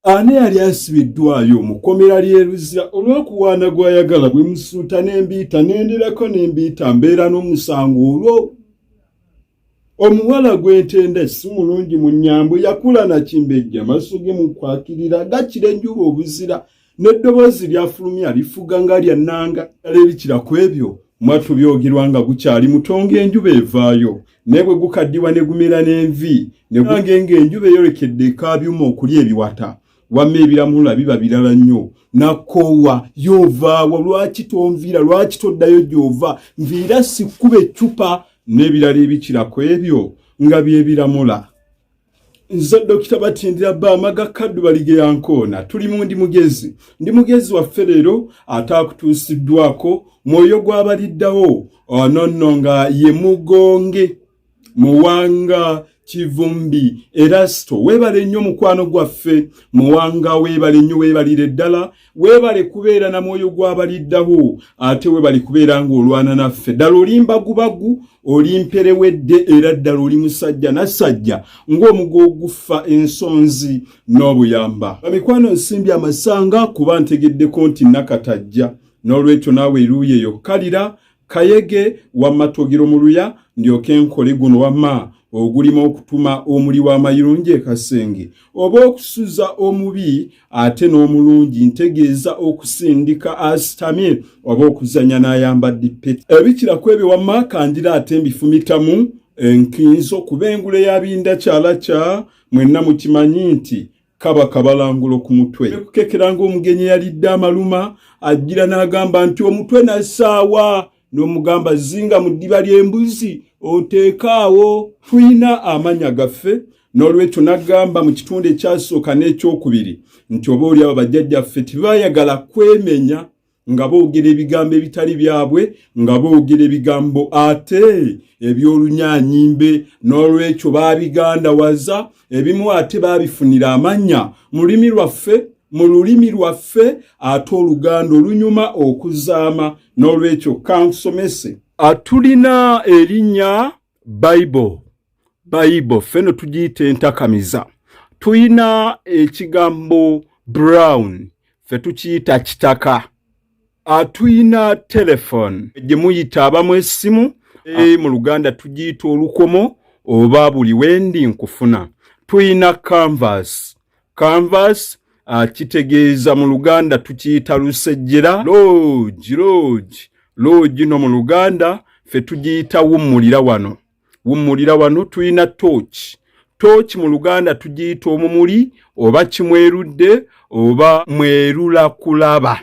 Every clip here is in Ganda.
Ani yali asibiddwayo mu kkomera ly'e Luzira olw'okuwaana gw'ayagala bwe musuuta n'embiita n'endirako n'embiita mbeera n'omusango olwo omuwala gw'entenda si mulungi mu nnyambo yakula nakimbejja maaso ge mu kwakirira gakira enjuba obuzira n'eddoboozi lyafulumya lifuga nga lya nnanga kale bikira ku ebyo mwattu byogerwa nga gukyali mutonga enjuba evaayo naye bwe gukaddiwa ne gumera n'envi ne gwange ng'enjuba eyolekedde ekaabyuma okulya ebiwata wamma ebiramulula biba birala nnyo nakoowa yovaawa lwaki tonviira lwaki toddayo gy'ova nviira sikuba eccupa n'ebirala ebikira ku ebyo nga byebiramula nze dokita batindira bamaga kaddu balige yankoona tuli mu ndi mugezi ndi mugezi waffe leero ataakutuusiddwako mwoyo gwabaliddawo ononno ah, nga ye mugonge muwanga kivumbi erasto weebale nnyo mukwano gwaffe muwanga weebale nnyo weebalire ddala webale kubeera na mwoyo gwabaliddawo ate webale kubeera ng'olwana naffe ddala oli mbagubagu oli mperewedde era ddala oli musajja nasajja ng'omugo oguffa ensonzi n'obuyamba bamikwano nsimbi amasanga kuba ntegeddeko nti nakatajja n'olwekyo naawe eruuyo eyo kalira kayege wamma togiro mu luya ndyoke nkole guno wamma ogulima okutuma omuli w'amayirungi ekasenge oba okusuza omubi ate n'omulungi ntegeeza okusindika asitamye oba okuzanya n'ayambadde peti ebikira ku ebyo wamma kangira ate mbifumitamu enkinzo kuba engule yabinda kyala kya mwenna mukimanyi nti kaba kabalangulo ku mutwe nekukekeranga omugenyi eyalidde amaluma ajjira n'agamba nti omutwe nasaawa n'omugamba zinga mu ddiba ly'embuzi oteekaawo tulina amanya gaffe n'olwekyo n'agamba mu kitundu ekyasooka n'ekyokubiri nti oba oli abo bajjajjaffe tebayagala kwemenya nga boogera ebigambo ebitali byabwe nga boogera ebigambo ate eby'olunyanyimbe n'olwekyo baabigandawaza ebimu ate baabifunira amannya mu lulimi lwaffe mu lulimi lwaffe ate oluganda olunyuma okuzaama n'olwekyo kansomese atulina erinnya bible bayibo ffe no tugiyita entakamiza tulina ekigambo brown ffe tukiyita kitaka atulina telefone gye muyita abamu essimu e, mu luganda tugiyita olukomo oba buli wendi nkufuna tulina canvas canvas kitegeeza mu luganda tukiyita lusejjera loogi loogi loogi no mu luganda ffe tugiyita wummulira wano wummulira wano tulina tooki tooki mu luganda tugiyita omumuli oba kimwerudde oba mwerula kulaba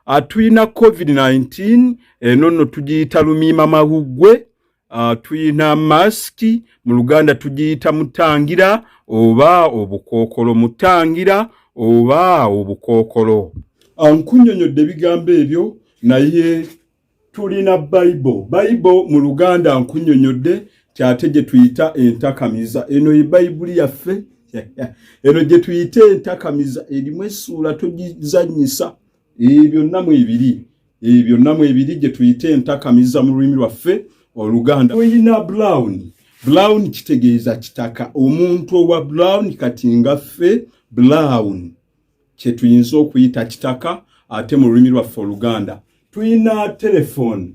atulina ah, covid-19 eno nno tugiyita lumiima mahuggwe ah, tulina masiki mu luganda tugiyita mutangira oba obukookolo mutangira oba obukookolo ankunyonyodde ah, ebigambo ebyo naye tulina bible bible mu luganda nkunyonyodde kyate gye tuyita entakamiza eno ye bayibuli yaffe eno gye tuyita entakamiza erimu essuula togizanyisa ebyo byonna mu ebiri ebyo byonna mu ebiri gye tuyita entakamiza mu lulimi lwaffe oluganda oyina brown brown kitegeeza kitaka omuntu owa brown kati nga ffe brown kye tuyinza okuyita kitaka ate mu lulimi lwaffe oluganda tulina telefoni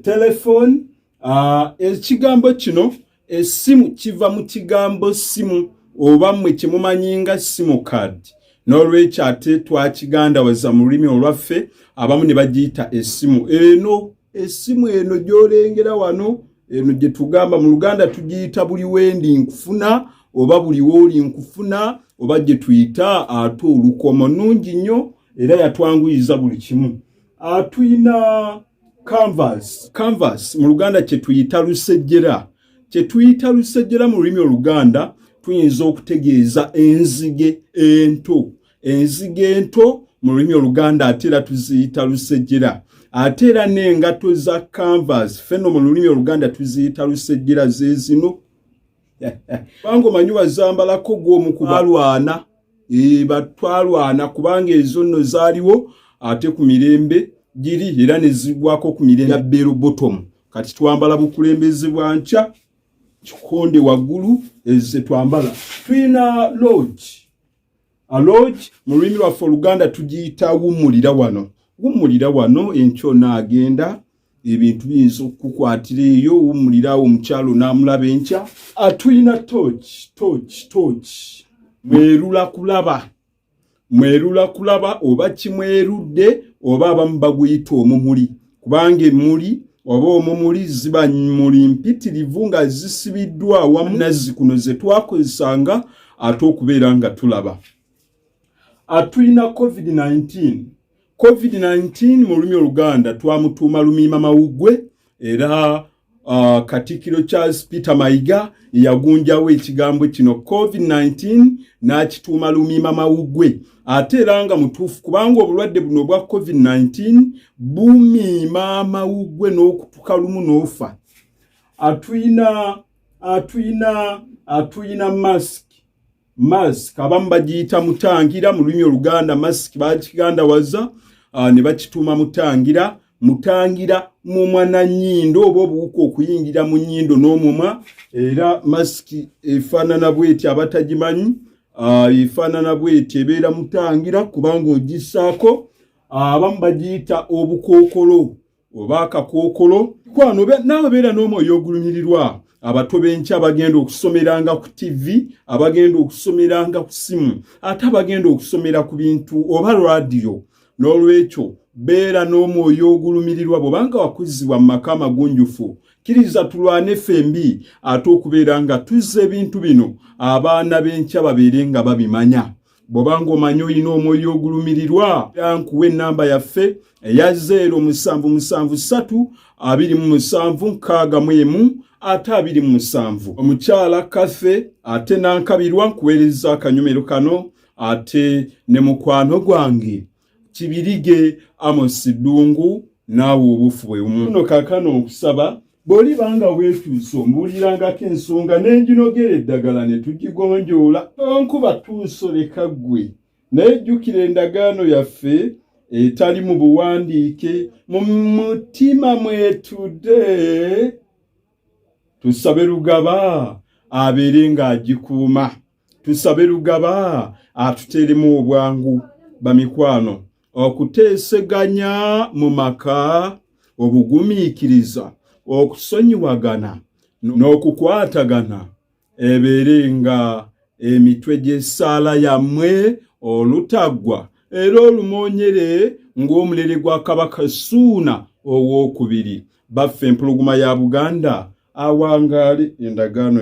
telefoni uh, ekigambo kino esimu kiva mu kigambo simu oba mmwe kye mumanyi nga simu card n'olwekyo ate twakigandawaza mu lulimi olwaffe abamu ne bagiyita esimu eno esimu eno gyolengera wano eno gye tugamba mu luganda tugiyita buli wendi nkufuna oba buli wooli nkufuna oba gye tuyita ate olukomo nungi nnyo era yatwanguyiza buli kimu atulina canvas canvas mu luganda kye tuyita lusejjera kye tuyita lusejjera mu lulimi oluganda tuyinza okutegeeza enzige ento enzige ento mu lulimi oluganda ate era tuziyita lusejjera ate era n'engato za canvas feno mu lulimi oluganda tuziyita lusejjera zezino kubanga omanyi wazambalako gwomukubalwana eh, batwalwana kubanga ezo nno zaaliwo ate ku mirembe giri era nezigwako ku mirembe bero bottom kati twambala bukulembeze bwa nkya kikonde waggulu eze twambala tulina lodge aloj mu lulimi lwaffe oluganda tugiyita wumulira wano wumulira wano enkyo naagenda ebintu biyinza okukukwatira eyo wumulira awo omukyalo naamulaba enkya atulina ah, toch toch toch mwerula kulaba mwerula kulaba oba kimwerudde oba abamu baguyita omumuli kubanga emmuli oba omumuli ziba muli mpitirivu nga zisibiddwa awamu nazzi kuno ze twakozesanga ate okubeera nga tulaba atulina covid-19 covid-19 mu lulimi oluganda twamutuuma lumiima mawuggwe era Uh, Katikkiro Charles Peter Mayiga yagunjawo ekigambo kino COVID-19 n'akituuma lumiima mawugwe ate era nga mutuufu kubanga obulwadde buno obwa COVID-19 bumiima amawugwe n'okutuka lumu n'ofa atuyina atuyina atuyina mask mask abamu bagiyita mutangira mu lulimi oluganda mask bakigandawaza ah, ne bakituuma mutangira mutangira mumwa na nyindo oba obuwuka okuyingira mu nyindo n'omumwa era masiki efaanana bweti abatagimanyi ah, efaanana bweti ebeera mutangira kubanga ogisaako ah, abamu bagiyita obukookolo oba akakookolo kwano naawe beera n'omwoyo ogulumirirwa abato b'enkya bagenda okusomeranga ku ttivi abagenda okusomeranga ku ssimu ate abagenda okusomera ku bintu oba laadiyo n'olwekyo beera n'omwoyo ogulumirirwa bwobanga wakuzzibwa mu maka amagunjufu kkiriza tulwane ffembi ate okubeera nga tuzza ebintu bino abaana b'enkya babeere nga babimanya bwoba ng'omanyi olina omwoyo ogulumirirwa yankuwa ennamba yaffe eya 077327 ate abiri mu musanvu omukyala kathe ate nankabirwa nkuweereza akanyumero kano ate ne mukwano gwange kibirige amosi dungu naawe obufu bwe bumu no kakano okusaba bwoli banga weetuuse ombuulirangako ensonga n'enjinogera eddagala ne tugigonjoola onkuba tuusoleka ggwe naye jjukira endagaano yaffe etali mu buwandiike mu mutima mwetude tusabe lugaba abeere ng'agikuuma tusabe lugaba atuteremu obwangu bamikwano okuteeseganya mu maka obugumiikiriza okusonyiwagana n'okukwatagana ebeere nga emitwe gy'essaala yammwe olutaggwa era olumoonyere ng'omulere gwa kabaka suuna ow'okubiri baffe empuluguma ya buganda awangaale endagaano